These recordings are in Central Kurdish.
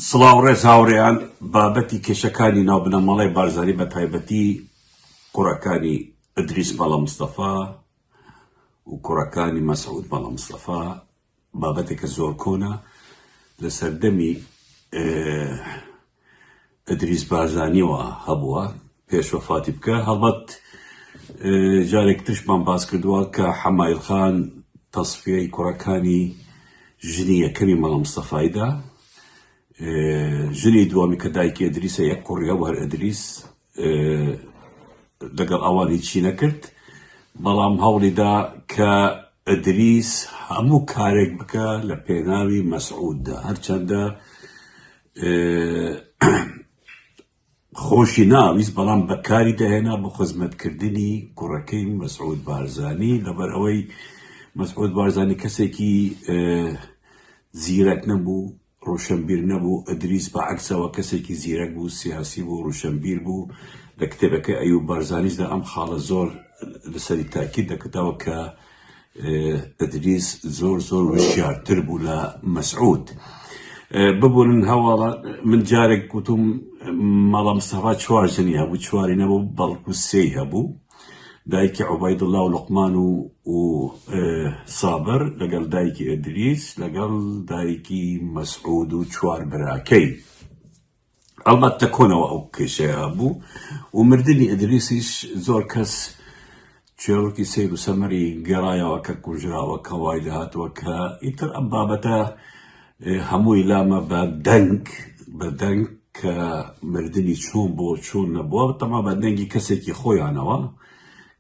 سڵاو ڕێز هاوڕێیان، بابەتی کێشەکانی ناو بنەماڵەی بارزانی بە تایبەتی کوڕەکانی ئەدریس مەڵا مستەفا و کوڕەکانی مەسعود مەڵا مستەفا بابەتێکە زۆر کۆنە لە سەردەمی ئەدریس بارزانیەوە هەبووە پێش وەفاتی بکە هەڵبەت جارێک ترشمان باس کردووە کە حەمایل خان تەسفیەی کوڕەکانی ژنی یەکەمی مەڵە مستەفایدا ژنی دوامی کە دایکی ئەدریسە یەک کوڕیا وەر ئەدریس لەگەڵ ئەوانی چی نەکرد بەڵام هەوڵیدا کە ئەدریس هەموو کارێک بکە لە پێناوی مەسعوددا هەرچەندە خۆشی ناویست بەڵام بەکاری دەهێنا بۆ خزمەت کردنی کوڕەکەی مەسعود بارزانی لەبەر ئەوەی مەسعود بارزانی کەسێکی زیرەک نەبوو ڕوشنبیر نەبوو ئەدریس بە عکسەوە کەسێکی زیرەک بوو سیاسی بوو ڕوشنبیر بوو لە کتێبەکە ئەو بارزانیشدا ئەم خاڵە زۆر لەسەری تاکی دەکەتەوە کە ئدریس زۆر زۆر وشیار تر بوو لە مەسعود ببورن هەواڵە من جارێک گوتم مەڵام سەفا چوار ژنی هەبوو چواری نەبوو بەڵکو سێ هەبوو دایکی عوباید الله و لقمان و و سابر لەگەڵ دایکی ئدریس لەگەڵ دایکی مەسعود و چوار براکەی هەڵبەت لە کۆنەوە ئەو کێشەیە هەبوو و مردنی ئەدریسیش زۆر کەس چێڕکی سیر و سەمەری گەڕایەوە کە کوژراوە کە وای لەهاتووە کە ئیتر ئەم بابەتە هەمووی لامە بە دەنگ بە دەنگ کە مردنی چۆن بۆ چۆن نەبووە تەما بە دەنگی کەسێکی خۆیانەوە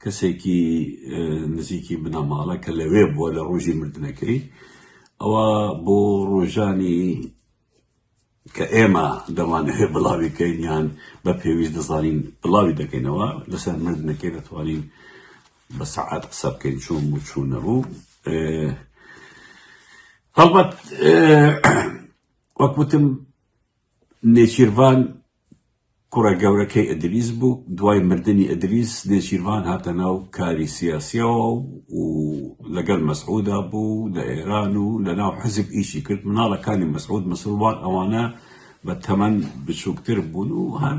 کەسێکی نزیکی بنەماڵە کە لەوێ بووە لە ڕۆژی مردنەکەی ئەوە بۆ ڕۆژانی کە ئێمە دەمانەوێت بڵاوی کەین یان بە پێویست دەزانین بڵاوی دەکەینەوە لەسەر مردنەکەی دەتوانین بە سەعات قسە بکەین چۆن و چوون نەبوو هەڵبەت وەکوتم نێچیرڤان کوڕە گەورەکەی ئیدریس بوو، دوای مردنی ئیدریس نێچیرڤان هاتە ناو کاری سیاسییەوە و لەگەل مەسعودا بوو لە ئێران و لە ناو حیزب ئیشی کرد، مناڵەکانی مەسعود مسروان ئەوانە بە تەمەن بچوکتر بوون و هەر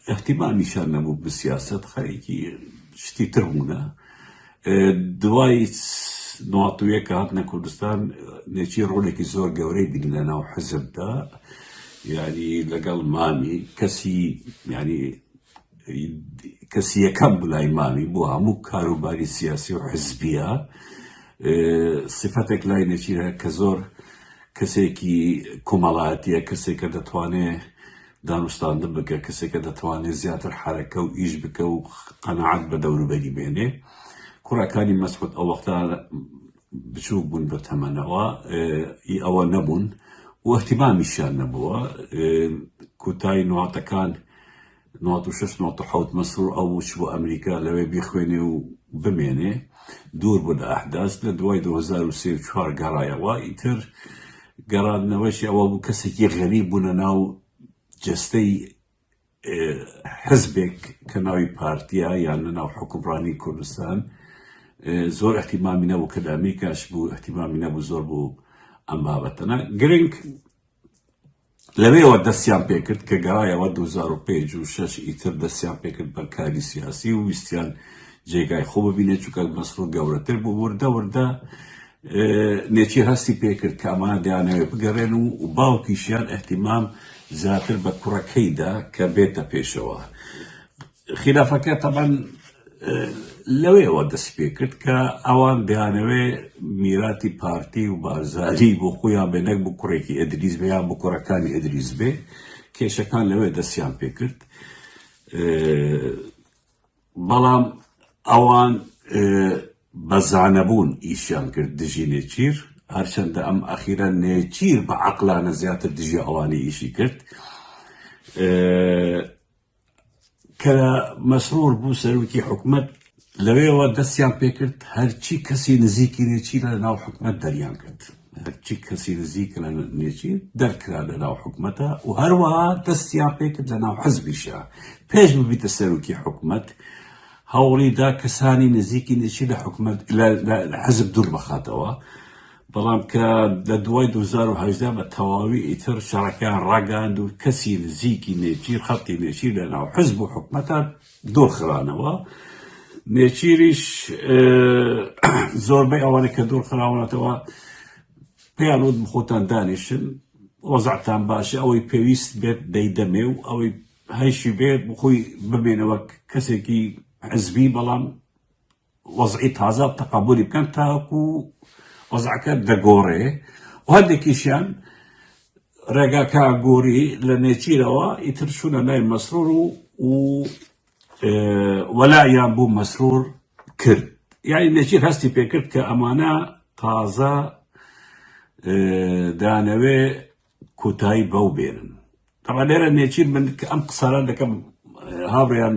ئیهتیمامیشیان نەبوو بە سیاسەت خەریکی شتی تر بوونە دوای ناتویە کە هاتنە کوردستان نێچی ڕۆلێکی زۆر گەورەی بین لە ناو حەزبدا یعنی لەگەڵ مامی کەسی ینی کەسی یەکەم بلای مامی بۆ هەموو کاروباری سیاسی و حزبیە سفتێک لای نێچیرە کە زۆر کەسێکی کۆمەڵایەتە کەسێکە دەتوانێت دانوستاندن بکە کەسێکە دەتوانێ زیاتر حەرەکە و ئیش بکە و قەناعەت بە دەوروبەری بێنێ کوڕەکانی مەسعود ئەو وەختە بچووک بوون بە تەمەنەوە ئی ئەوە نەبوون و احتیمامیشیان نەبووە کوتای نواتەکان 96 96 مەسرور ئەو وچ بۆ ئەمریکا لەوێ بیخوێنێ و بمێنێ دوور بوو لە ئەحداس لە دوای 2024 گەڕایەوە ئیتر گەڕاندنەوەشی ئەوە بوو کەسێکی غەریب بوونە ناو جستەی حزبێک کە ناوی پارتیا یان لە ناو حکومڕانی کوردستان زۆر احتیمامی نەبوو کە لە ئەمریکاش بوو احتیمامی نەبوو زۆر بوو ئەم بابەتەنە گرنگ لەوێوە دەستیان پێکرد کە گەرایەوە دووزار و پێنج و شەش ئیتر دەستیان پێکرد بە کاری سیاسی و ویستیان جێگای خۆ ببینێت چونکە مەسرور گەورەتر بوو وردە وردە نێچیر هەستی پێکرد کە ئەمانە دەیانەوێ بگەڕێن و باوکیشیان احتیمام زیاتر بە کوڕەکەیدا کە بێتە پێشەوە خیلافەکە تەبەن لەوەیەوە دەست پێ کرد کە ئەوان دەیانەوێ میراتی پارتی و بارزانی بۆ خۆیان بێ نەک بۆ کوڕێکی ئەدریس بێ یان بۆ کوڕەکانی ئەدریس بێ کێشەکان لەوێ دەستیان پێ کرد بەڵام ئەوان بەزانەبوون ئیشیان کرد دژی نێچیر هەرچەندە ئەم ئەخیرە نێچیر بە عقلانە زیاتر دژی ئەوانی ئیشی کرد کە مەسرور بوو سەرۆکی حکومەت لەوێوە دەستیان پێکرد هەرچی کەسی نزیکی نێچی لە ناو حکومەت دەریان کرد هەرچی کەسی نزیک لە نێچی دەرکرا لە ناو حکومەتە و هەروەها دەستیان پێکرد لە ناو حەزبیشە پێش ببیتە سەرۆکی حکومەت هەوڵیدا کەسانی نزیکی نێچی لە حکومەت لە حەزب دوور بخاتەوە بەڵام کە لە دوای دوو هەزار و هەژدە بە تەواوی ئیتر شەڕەکەیان ڕاگەیاند و کەسی نزیکی نێچیر خەڵکی نێچیر لە ناو حزب و حکومەتە دۆر خرانەوە نێچیریش زۆربەی ئەوانە کە دۆر خراونەتەوە پێیان وت خۆتان دانیشن وەزعتان باشە ئەوەی پێویست بێت دەیدەمێ و ئەوەی هەیشی بێ بخۆی بمێنەوە کەسێکی حزبی بەڵام وەزعی تازە تەقەبولی بکەن تاوەکو وەزعەکە دەگۆڕێ و هەندێکیشیان ڕێگاکە گۆری لە نێچیرەوە ئیتر شوونە لای مەسرور و و وەلایان بوو مەسرور کرد یعنی نێچیر هەستی پێکرد کە ئەمانە تازە دانەوێ کۆتایی بەو بێنن تەبا لێرە نێچیر من کە ئەم قسانە دەکەم هاوڕێیان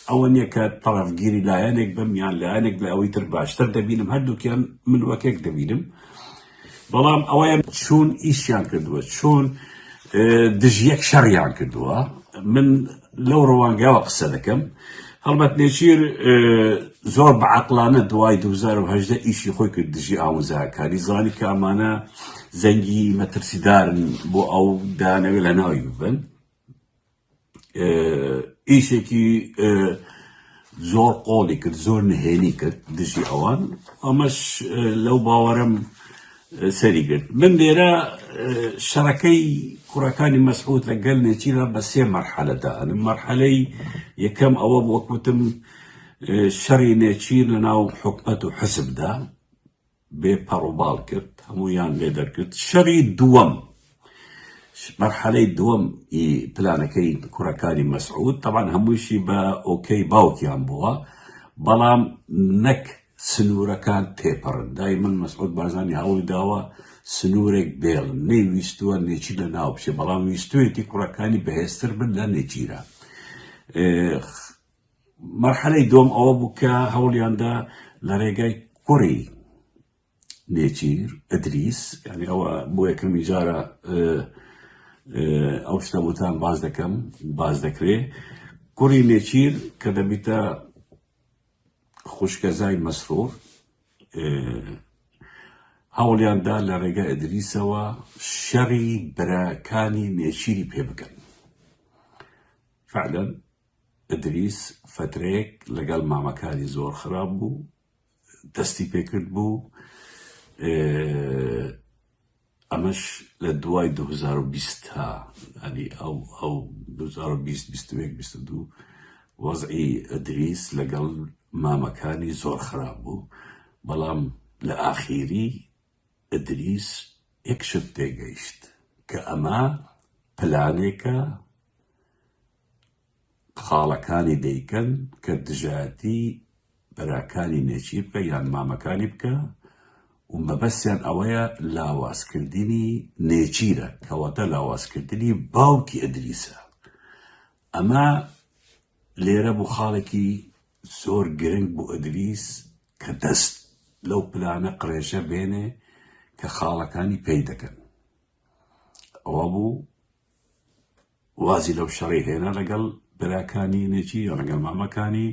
ئەوە نییە کە تەڕەفگیری لایەنێک بم یان لایەنێک لە ئەوەی تر باشتر دەبینم هەردووکیان من وەکێک دەبینم بەڵام ئەوەیان چۆن ئیشیان کردووە چۆن دژ یەک شەڕیان کردووە من لەو ڕوانگاوە قسە دەکەم هەڵبەت نێچیر زۆر بە عقلانە دوای 2010 ئیشی خۆی کرد دژی ئاموزاکانی زانی کە ئەمانە زەنگی مەترسیدارن بۆ ئەو دانەوێت لە ناوی ببن ئیشێکی زۆر قۆڵی کرد زۆر نهێنی کرد دژی ئەوان ئەمەش لەو باوەرم سەری گرت من لێرە شەڕەکەی کوڕەکانی مەسعود لە گەل نێچیرا بە سێ مەرحەلەدا ئەنم مەرحەلەی یەکەم ئەوە وەکوتم شەڕی نێچیر لە ناو حکومەت و حسبدا بێ پەڕوباڵ کرد هەموویان لێ دەرکرد شەری دووەم مەرحەلەی دووەم ئی پلانەکەی کوڕەکانی مەسعود تەبان هەمووشی بە ئۆکەی باوکیان بووە بەڵام نەک سنوورەکان تێپەڕن دای من مەسعود بارزانی هەوڵی داوە سنوورێک بێڵ نەیویستووە نێچی لە ناو بچێ بەڵام ویستوێتی کوڕەکانی بەهێزتر بن لە نێچیرە مەرحەلەی دووەم ئەوە بوو کە هەوڵیاندا لە ڕێگای کوڕی نێچیر ئەدریس یعنی ئەوە بۆ یەکەمی جارە ئەو شتە بۆتان باز دەکەم باز دەکرێ کوڕی نێچیر کە دەبیتە خوشکەزای مەسرور هەوڵیاندا لە ڕێگە ئەدریسەوە شەڕی براکانی نێچیری پێ بکەن فعلەن ئیدریس فەترەیەک لەگەڵ مامەکانی زۆر خراپ بوو دەستی پێکرد بوو ئەمەش لە دوای 2020 تا ئەنی ئەو ئەو 2022 وەزعی ئەدریس لەگەڵ مامەکانی زۆر خراپ بوو بەڵام لە ئاخیری ئەدریس یەک شت تێگەیشت کە ئەمە پلانێکە خاڵەکانی دەیکەن کە دژایەتی براکانی نێچیر بکە یان مامەکانی بکە و مەبەستیان ئەوەیە لاوازکردنی نێچیرە کەواتە لاوازکردنی باوکی ئەدریسە ئەمە لێرە بوو خاڵێکی زۆر گرنگ بۆ ئەدریس کە دەست لەو پلانە قڕێژە بێنێ کە خاڵەکانی پێی دەکەن ئەوە بوو وازی لەو شەڕی هێنا لەگەڵ براکانی نێچی یا لەگەڵ مامەکانی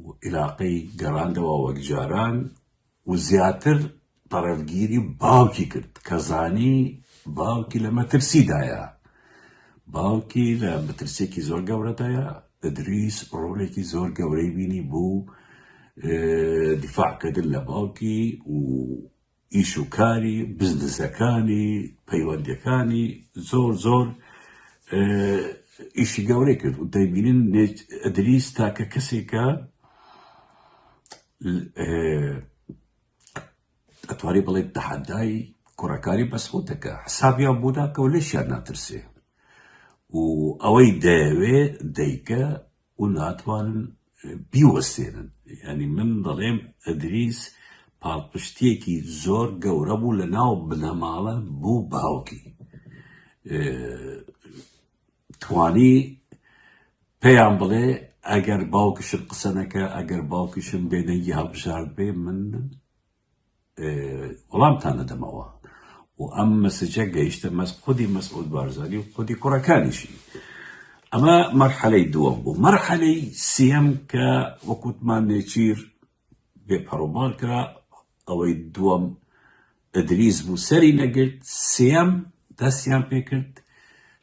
و عیلاقەی گەڕاندەوە وەک جاران و زیاتر پەڕەفگیری باوکی کرد کە زانی باوکی لە مەترسیدایە باوکی لە مەترسێکی زۆر گەورەدایە ئەدریس ڕۆلێکی زۆر گەورەی بینی بوو دیفاعکردن لە باوکی و ئیش و کاری بزنسەکانی پەیوەندەکانی زۆر زۆر ئیشی گەورەی کرد و دەبینین ئەدریس تاکە کەسێکە ئەتواری بڵێت تەحەدای کوڕەکانی بەسخوتەکە حسابیان بۆداکەەوە لەشیان ناترسێ و ئەوەی دەیەوێ دەیکە و ناتوانن بیوەستێنن یانی من دەڵێم ئەدریس پاڵپشتیەکی زۆر گەورە بوو لە ناو بنەماڵە بوو باوکی توانی پێیان بڵێ ئەگەر باوکشت قسەنەکە ئەگەر باوکیشم بێدەنگی هەڵبژارد بێ من وڵامتان دەدەمەوە و ئەم مەسجە گەیشتە مەس خودی مەسعود بارزانی و خودی کوڕەکانیشی ئەمە مەرحەلەی دووەم بوو مەرحەلەی سیەم کە وەکوتمان نێچیر بێپەڕۆماڵ کرا ئەوەی دووەم ئەدریس بوو سەری نەگرت سیەم دەستیان پێکرد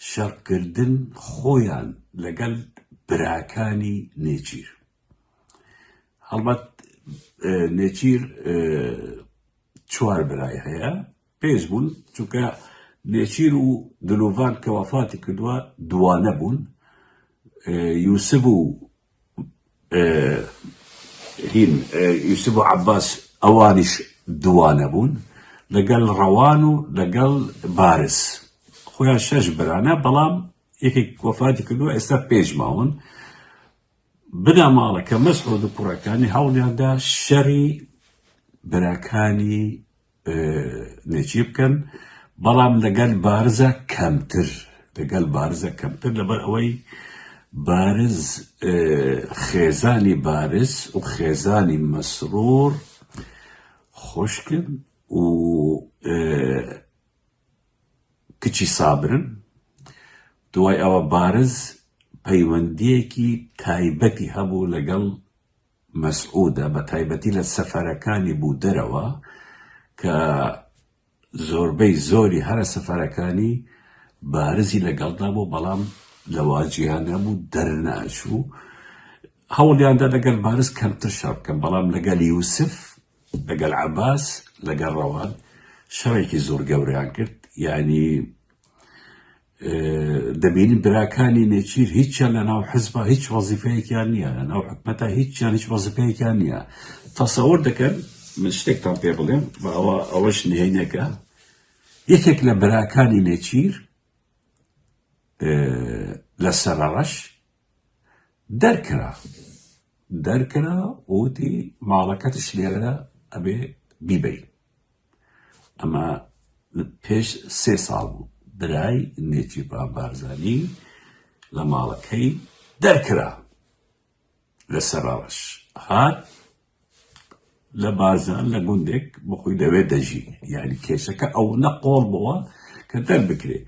شەڕکردن خۆیان لەگەل براکانی نێچیر هەڵبەت نێچیر چوار برای هەیە پێش بوون چونکە نێچیر و دلوڤان کە وەفاتی کردووە دوانە بوون یوسف و هین یوسف و عباس ئەوانیش دوانە بوون لەگەڵ ڕەوان و لەگەڵ بارز خۆیان شەش برانە بەڵام یەکێک وەفاتی کردووە ئێستا پێش ماون بنەماڵەکە مەسعود و کوڕەکانی هەوڵیاندا شەری براکانی نێچی بکەن بەڵام لەگەل بارزە کەمتر لەگەل بارزە کەمتر لەبەر ئەوەی بارز خێزانی بارز و خێزانی مەسرور خوشکن و کچی سابرن، دوای ئەوە بارز پەیوەندییەکی تایبەتی هەبوو لەگەڵ مەسعودە بەتایبەتی لە سەفەرەکانی بوو دەرەوە کە زۆربەی زۆری هەرە سەفەرەکانی بارزی لەگەڵدا بوو بەڵام لەوە جیا نەبوو دەرناچوو هەوڵیاندا لەگەل بارز کەمتر شەڕ بکەن بەڵام لەگەل یوسف لەگەل عەباس لەگەل ڕەوان شەرێکی زۆر گەورەیان کرد یعنی دەبینی براکانی نێچیر هیچیان لە ناو حزبە هیچ وەزیفەیەکیان نییە لە ناو حکومەتە هیچیان هیچ وەزیفەیەکیان نییە تەسەور دەکەن من شتێکتان پێ بڵێم باوە ئەوەش نهێنەکە یەکێک لە براکانی نێچیر لە سەرڕەش دەرکرا دەرکرا ووتی ماڵەکەتش لێرە ئەبێ بیبەی ئەمە پێش سێ ساڵ بوو برای نێچیرڤان بارزانی لە ماڵەکەی دەرکرا لە سەراوەش هات لە بارزان لە گوندێک بخۆی دەوێت دەژی یعنی کێشەکە ئەو نەقۆڵ بووە کە دەربکرێ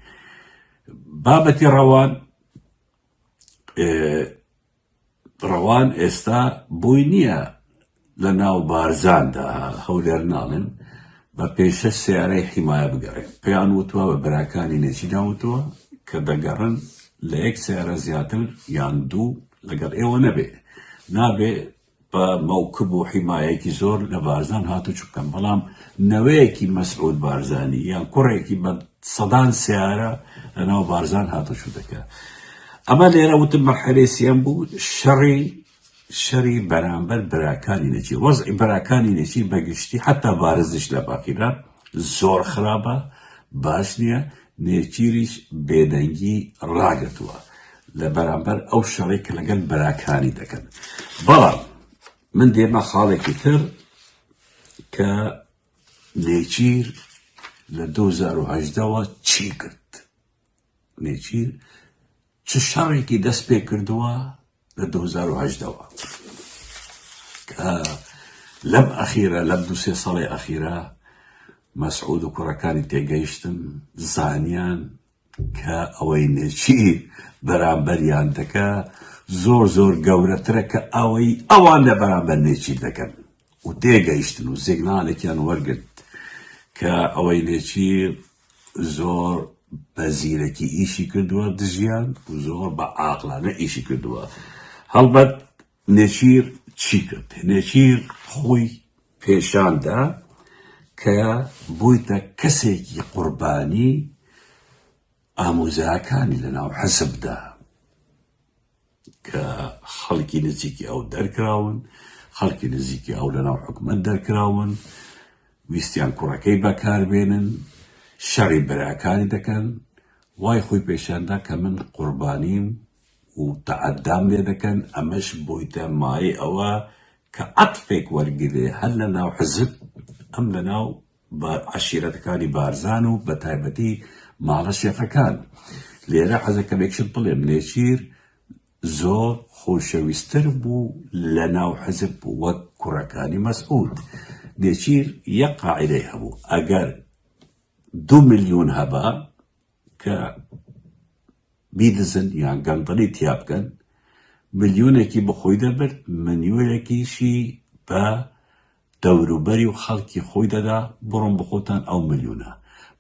بابەتی ڕەوان ڕەوان ئێستا بۆی نییە لە ناو بارزاندا هەولێر ناڵێن بە پێشە سیارەی حیمایە بگەڕێن پێیان وتوە بە براکانی نێچی داوتەوە کە دەگەڕن لە یەک سیارە زیاتر یان دوو لەگەڵ ئێوە نەبێ نابێ بە مەوکب و حیمایەکی زۆر لە بارزان هاتوچو بکەن، بەڵام نەوەیەکی مەسعود بارزانی یان کوڕێکی بە سەدان سەیارە لە ناو بارزان هاتوچو دەکا. ئەمە لێرە وتم مەرحەلەی سێیەم بوو شەڕی شەری بەرامبەر براکانی نەچی وەزعی براکانی نەچی بەگشتی حتا بارزش لە باقیدا زۆر خراپە باش نییە نێچیریش بێدەنگی ڕاگرتووە لە بەرامبەر ئەو شەڕەی کە لەگەل براکانی دەکەن. بەڵام من دێمە خاڵێکی تر کە نێچیر لە 2010ەوە چی کرد نێچیر چ شەڕێکی دەست پێ کردووە لە دوو هەزار و هەژدەوە لەم ئەخیرە لەم دوو سێ ساڵی ئەخیرە مەسعود و کوڕەکانی تێگەیشتن زانیان کە ئەوەی نێچیر بەرامبەریان دەکە زۆر زۆر گەورەترە کە ئەوەی ئەوان لە بەرامبەر نێچیر دەکەن و تێگەیشتن و سیگنالێکیان وەرگرت کە ئەوەی نێچیر زۆر بە زیرەکی ئیشی کردووە دژیان و زۆر بە ئاقلانە ئیشی کردووە هەڵبەت نێچیر چی کرد نێچیر خۆی پێشاندا کە بوویتە کەسێکی قوربانی ئامۆزاکانی لەناو حەسبدا کە خەڵکی نزیکی ئەو دەرکراون، خەڵکی نزیکی ئەو لەناو حکومەت دەرکراون، ویستیان کوڕەکەی بەکاربێنن، شەڕی براکانی دەکەن، وای خۆی پێشاندا کە من قوربانیم و تەعەدام لێ دەکەن، ئەمەش بوویتە مایەی ئەوە کە عەتفێک وەرگرێ هەر لەناو حزب، ئەم لەناو. بە عەشیرەتەکانی بارزان و بە تایبەتی ماڵە شێخەکان لێرە حەزە کەمێکشت بڵێم نێچیر زۆر خۆشەویستر بوو لە ناو حەزب بوو وەک کوڕەکانی مەسعود نێچیر یەک قاعدەی هەبوو ئەگەر دو ملیون هەبە کە بیدزن یان گەندەڵی تیا بکەن، ملیۆنێکی بە خۆی دەبرد، ملیۆنێکیشی بە دەوروبەری و خەڵکی خۆی دەدا، بڕۆن بەخۆتان ئەو ملیۆنە،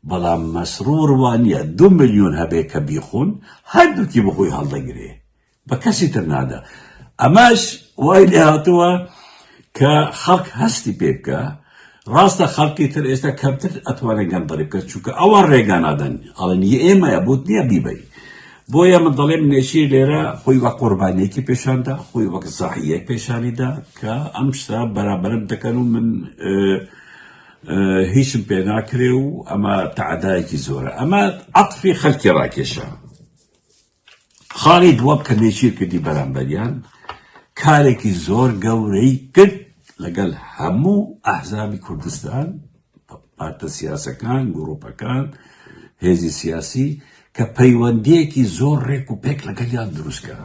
بەڵام مەسرور وانیە دوو ملیۆن هەبێ کە بیخۆن، هەردووکی بەخۆی هەڵدەگرێ، بە کەسی تر نادا ئەمەش وای لێ هاتووە کە خەڵک هەستی پێ بکە ڕاستە خەڵکی تر ئێستا کەمتر ئەتوانێت گەندەڵی بکە چونکە ئەوە ڕێگا نادەن ئەڵێن ئێمەیە بوت نییە بیبی بۆیە من دەڵێم نێشی لێرە خۆی وە قوربانیەکی پێشاندا خۆی وەک زەحیە پێشانیدا کە ئەم شتا بەرابرم دەکەن و من هیچم پێ ناکرێ و ئەمە تعدایەکی زۆرە ئەمە عطفی خەلکی ڕاکێشە خالید وەک کە نێچیر کردی بەرامبەریان کارێکی زۆر گەورەی کرد لەگەل هەموو ئەحزابی کوردستان پارتە سیاسەکان گروپەکان هێزی سیاسی کە پەیوەندیەکی زۆر ڕێک و پێک لەگەلیان دروستکە.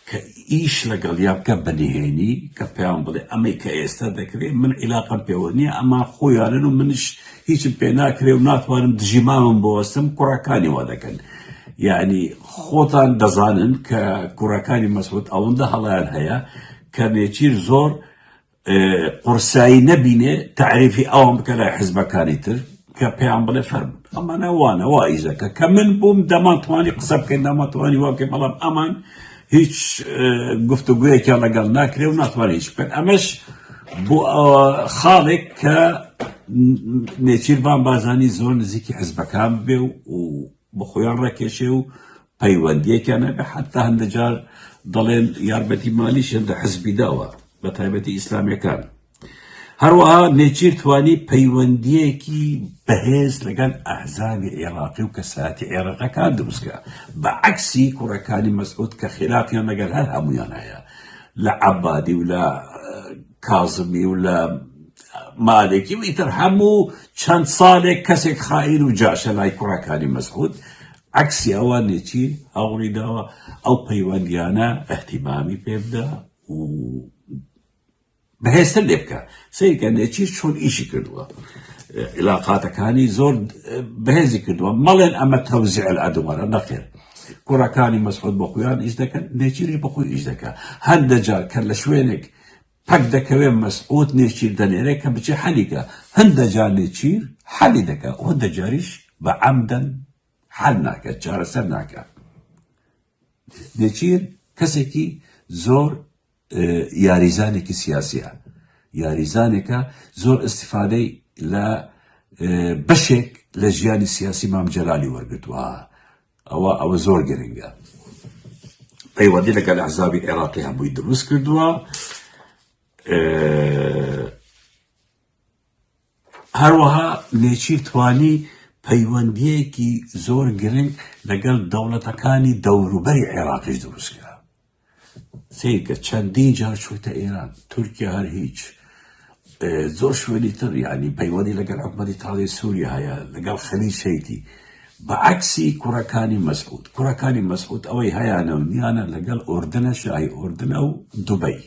کە ئیش لەگەڵیا بکە بە نهێنی کە پێیان بڵێ ئەمەی کە ئێستا دەکرێ من عیلاقەم پێوە نییە ئەمە خۆیانن و منش هیچم پێ ناکرێ و ناتوانم دژی مامم بۆستم کوڕەکانی وا دەکەن یعنی خۆتان دەزانن کە کوڕەکانی مەسعود ئەوەندە هەڵیان هەیە کە نێچیر زۆر قورسایی نەبینێ تعریفی ئەوان بکە لای حزبەکانی تر کە پێیان بڵێ فەرم ئەمانە وانە وا ئیزەکە کە من بووم دەمانتوانی قسە بکەین داماتوانی واکەی بەڵام ئەمان هیچ گفتوگویەکیان لەگەڵ ناکرێ و ناتوانێت هیچ بکەن ئەمەش بۆ خاڵێک کە نێچیربان بازانی زۆر نزیکی حزبەکان بێ و بۆ خۆیان ڕاکێشێ و پەیوەندییەکیان هەبێ، حەتتا هەندێ جار دەڵێن یارمەتی مالیشیان لە حزبی داوە، بە تایبەتی ئیسلامییەکان. هەروەها نێچیر توانی پەیوەندییەکی بەهێز لەگەڵ ئەحزابی عێراقی و کەسایەتی عێراقیەکان دروست کا، بە عەکسی کوڕەکانی مەسعود کە خیلافیان لەگەڵ هەر هەموویان هەیە لە عەبادی و لە کازمی و لە مالێکی و ئیتر هەموو چەند ساڵێک کەسێک خائین و جاشە لای کوڕەکانی مەسعود عکسی ئەوانێکی هەوڵی داوە ئەو پەیوەندیانە ئەحتیمامی پێ بدا و بەهێستە لێ بکە سیرکە نێچی چۆن ئیشی کردووە علاقاتەکانی زۆر بەهێزی کردووە مەڵێن ئەمە تەوزیع ئەدووارە نەخێر کوڕەکانی مەسعود بە خۆیان ئیش دەکەن نێچیری بەخۆی ئیش دەکە هەندە جار کە لە شوێنێک پەک دەکەوێ مەسعود نێچیر دەنێرێ کە بچێ حەلی کە هەندە جار نێچیر حەلی دەکا و هەندە جاریش بە عەمدەن حەل ناکە چارەسەر ناکە نێچیر کەسێکی زۆر یاریزانێکی سیاسیە یاریزانێکە زۆر استفادەی لە بەشێک لە ژیانی سیاسی مام جەلالی وەرگتووە ئەوە ئەوە زۆر گرنگە پەیوەندی لەگەل ئەحزابی عێراقی هەمووی دروست کردووە هەروەها نێچیر توانی پەیوەندیەکی زۆر گرنگ لەگەل دەوڵەتەکانی دەوروبەری عێراقیش دروستکرا سەیرکە چەندین جار چوویتە ئێران تورکیا هەر هیچ زۆر شوێنی تر یعنی پەیوەندی لەگەڵ حکومەتی تازەی سووریا هەیە لەگەڵ خەلی شەیتی بەعکسی کوڕەکانی مەسعود کوڕەکانی مەسعود ئەوەی هەیانە و نیانە لەگەڵ ئۆردنە شای ئۆردنە و دوبەی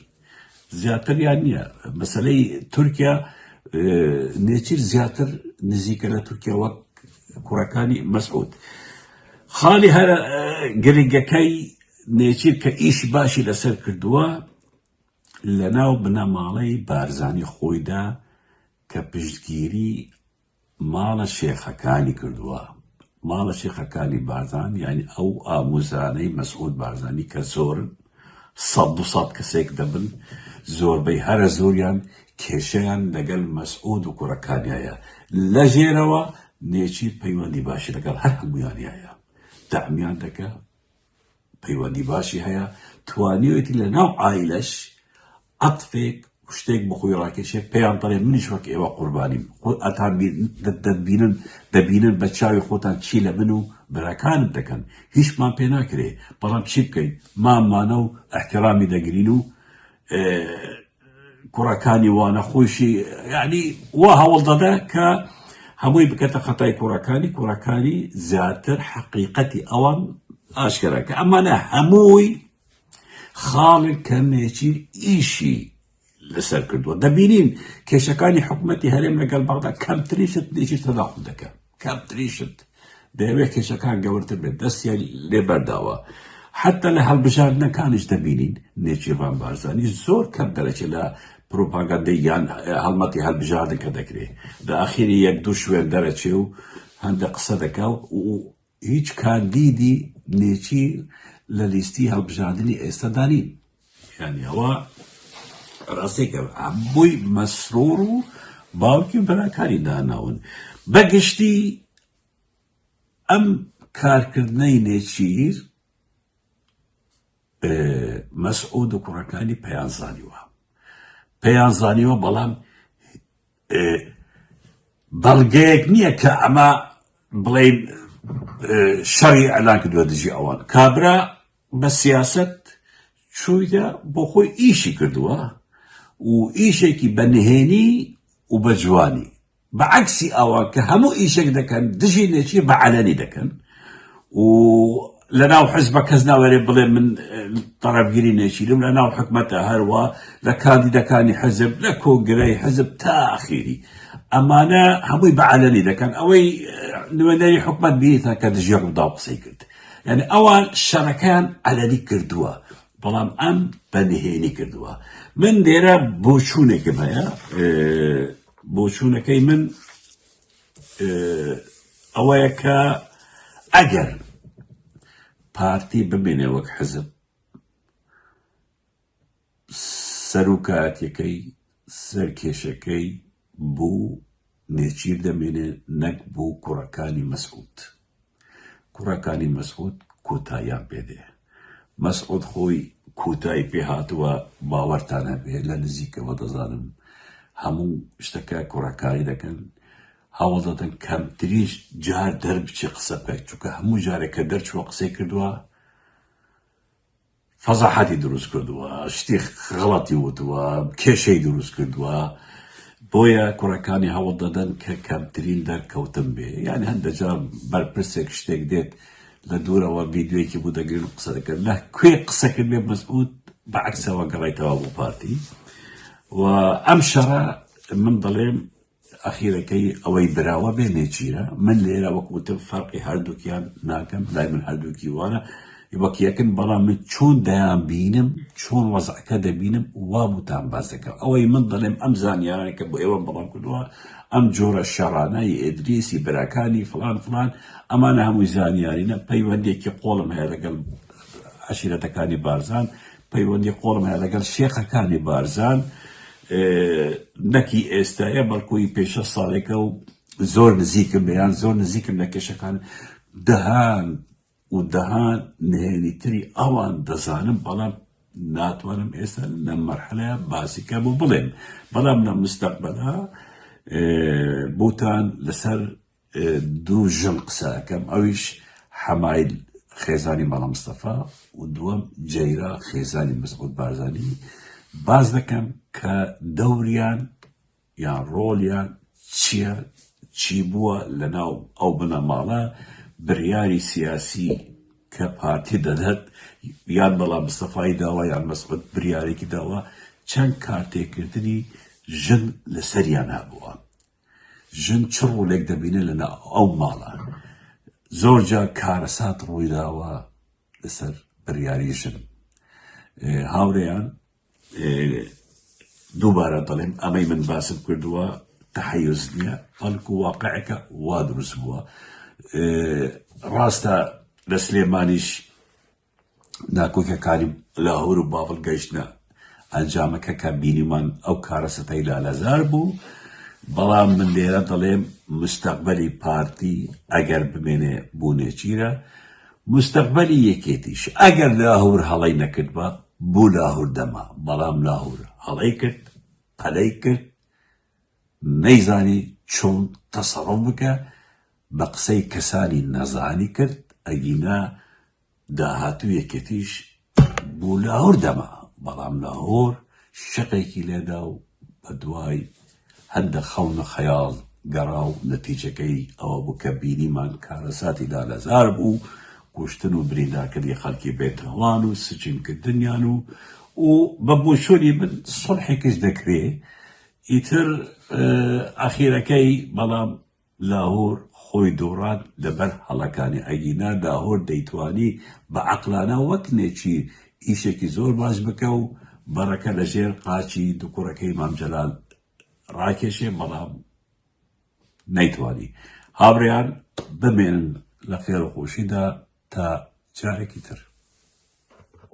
زیاتر یان نییە مەسلەی تورکیا نێچیر زیاتر نزیکە لە تورکیا وەک کوڕەکانی مەسعود خاڵی هەر گرنگەکەی نێچیر کە ئیش باشی لەسەر کردووە لە ناو بنەماڵەی بارزانی خۆیدا کە پشتگیری ماڵە شێخەکانی کردووە ماڵە شێخەکانی بارزان یعنی ئەو ئاموزانەی مەسعود بارزانی کە زۆرن سەد دو سەد کەسێک دەبن زۆربەی هەرە زۆریان کێشیان لەگەل مەسعود و کوڕەکانیایە لە ژێرەوە نێچیر پەیوەندی باشی لەگەڵ هەر هەموویانیایە دەعمیان دەکا پەیوەندی باشی هەیە توانیوێتی لە ناو عایلەش عەتفێک شتێک بەخۆی ڕاکێشێ پێیان پەرێ منیش وەک ئێوە قوربانیم خۆ ئەتان دەبینن دەبینن بە چاوی خۆتان چی لە من و براکان دەکەن هیچمان پێ ناکرێ بەڵام چی بکەین مامانە و احترامی دەگرین و کوڕەکانی وانە خۆشی یعنی وا هەوڵ دەدا کە هەمووی بکەتە خەتای کوڕەکانی کوڕەکانی زیاتر حەقیقەتی ئەوان ئاشکرا کە ئەمانە هەمووی خاڵی کەمێکی ئیشی لەسەر کردووە دەبینین کێشەکانی حکوومەتتی هەرێم لەگەڵ بەغدا کەمتریشت دێکی تەداخل دەکەن کەم تریشت دەیەوێت کێشەکان گەورتر بێت دەستیان لێ بەرداوە حەتا لە هەڵبژاردنەکانیش دەبینین نێچیرڤان بارزانی زۆر کەم دەرەچێت لە پروپاگەندەی یان هەڵمەتی هەڵبژاردن کە دەکرێت لە ئاخیری یەک دوو شوێن دەرەچێ و هەندە قسە دەکا و هیچ کاندیدی نێچیر لە لیستی هەڵبژاردنی ئێستادانی یانی ئەوە ڕاستێکە بۆی مەسرۆر و باوکی و براکانی داناون بەگشتی ئەم کارکردنەی نێچیر مەسعود و کوڕەکانی پەیانزانیوە پەیانزانیوە بەڵام ئێ بەڵگەیەک نییە کە ئەمە بڵێین شەڕی ئەلان کردووە دژی ئەوان کابرا بە سیاست چوویدا بۆ خۆی ئیشی کردووە و ئیشێکی بە نهێنی و بە جوانی بە عکسی ئەوە کە هەموو ئیشێک دەکەن دژی نێچی بە عەلەنی دەکەن و لە ناو حزبە کەس ناوەێ بڵێ من تەڕەبگیری نێچیرم لە ناو حکومەتە هەروە لە کاندیدەکانی حزب لە کۆنگرەی حزب تا ئاخیری ئەمانە هەمووی بەعاەنی دەکەن ئەوەی نوێنەری حکومت بیتە کە دژێ ڕوودا قسەی کرد یعنی ئەوان شەڕەکان ئەلەری کردووە بەڵام ئەم بەنهێنی کردووە من دێرە بۆچوونێکم هەیە بۆچوونەکەی من ئەوەیە کە ئەگەر پارتی بمێنێ وەک حزب سەرکاتەکەی سەرکێشەکەی بوو نێچیر دەمێنێ نەک بوو کوڕەکانی مەسکوت کوڕەکانی مەسعود کۆتاییان پێ دێ. مەسعود خۆی کۆتایی پێ هاتووە باوەرتان هەبێ لە نزیکەوە دەزانم هەموو شتەکە کوڕەکانی دەکەن هەوڵ دەدەن کەمتریش جار دەربچێ قسە بکات چونکە هەموو جارێک کە دەرچووە قسەی کردووە فەزاحەتی دروست کردووە شتی غڵەتی وتووە کێشەی دروست کردووە بۆیە کوڕەکانی هەوڵ دەدەن کە کەمترین دەرکەوتن بێ یعنی هەندەجا بەرپرسێک شتێک دێت لە دوورەوە ڤیددیوەکی بوو دەگرن قسە دەکەن لە کوێ قسەکرد بێ مەسعود بە عکسەوە گەڕێتەوە بۆ پارتی و ئەم شەڕە من دەڵێم ئەخیرەکەی ئەوەی براوە بێ نێچیرە، من لێرە وەک وتم فەرقی هەردووکیان ناکەم، لای من هەردووکی وانە وەک یەکن، بەڵام من چۆن دەیانبینم، چۆن وەزعەکە دەبینم وا بوتان باس دەکەم، ئەوەی من دەڵێم ئەم زانیارانەی کە بۆ ئێوەم بڵاو کردووە، ئەم جۆرە شەڕانە، ی ئیدریس، ی براکانی، فڵان فڵان، ئەمانە هەمووی زانیارینە، پەیوەندییەکی قووڵم هەیە لەگەڵ عەشیرەتەکانی بارزان، پەیوەندی قوڵم هەیە لەگەڵ شێخەکانی بارزان نەک هی ئێستایە بەڵکو هی پێش شەست ساڵێکە و زۆر نزیکم لێیان زۆر نزیکم لە کێشەکان دەهان و دەهان نهێنی تری ئەوان دەزانم بەڵام ناتوانم ئێستا لەم مەرحەلەیە باسیکە بۆ بڵێم بەڵام لە مستەقبەلا بۆتان لەسەر دوو ژن قسە ئەکەم ئەویش حەمایل خێزانی مەڵا مستەفا و دووەم جەیرا خێزانی مزغوت بارزانی باز دەکەم کە دەوریان یان ڕۆڵیان چییە چی بووە لە ناو ئەو بنەماڵە بریاری سیاسی کە پارتی دەدەت یان بەڵام مستەفای داوا یان مەسعود بریارێکی داوا چەند کارتێکردنی ژن لەسەریان هەبووە ژن چ ڕۆلێک دەبینێت لەناو ئەو ماڵە؟ زۆرجار کارەسات ڕوویداوە لەسەر بڕیاری ژن هاورێیان دووبارە دەڵێم ئەمەی من باسم کردووە تحیز نییە بەڵکو واقعەکە وا دروست بووە ڕاستە لە سلێمانیش ناکۆکیەکانی لاهور و بابل گەیشتنە ئەنجامەکە کە بینیمان ئەو کارەسەتەی لالەزار بوو بەڵام من لێرە دەڵێم مستەقبەلی پارتی ئەگەر بمێنێ بوو نێچیرە مستەقبەلی یەکێتیش ئەگەر لاهور هەڵی نەکرد بە بوو لاهور دەما بەڵام لاهور هەڵی کرد پەلەی کرد نەیزانی چۆن تەسەڕوف بکە بە قسەی کەسانی نەزانی کرد ئەگینا داهاتوو یەکێتیش بۆ لاهور دەما بەڵام لاهور شەقێکی لێدا و بەدوای هەندە خەون و خەیاڵ گەڕا و نەتیجەکەی ئەوە بوو کە بینیمان کارەساتی لالەزار بوو کوشتن و بریندارکردنی خەڵکی بێتهوان و سجنکردنیان و و بە بۆچۆنی من سوڵحێکش دەکرێ ئیتر ئەخیرەکەی بەڵام لاهور خۆی دۆڕان لەبەر هەڵەکانی ئەگینا لاهور دەیتوانی بە عەقلانە وەک نێچیر ئیشێکی زۆر باش بکە و بەڕەکە لەژێر قاچی دوکوڕەکەی مام جەلال ڕاکێشێ بەڵام نەیتوانی هاوریان بمێنن لە خێرو خۆشیدا تا جارێکی تر.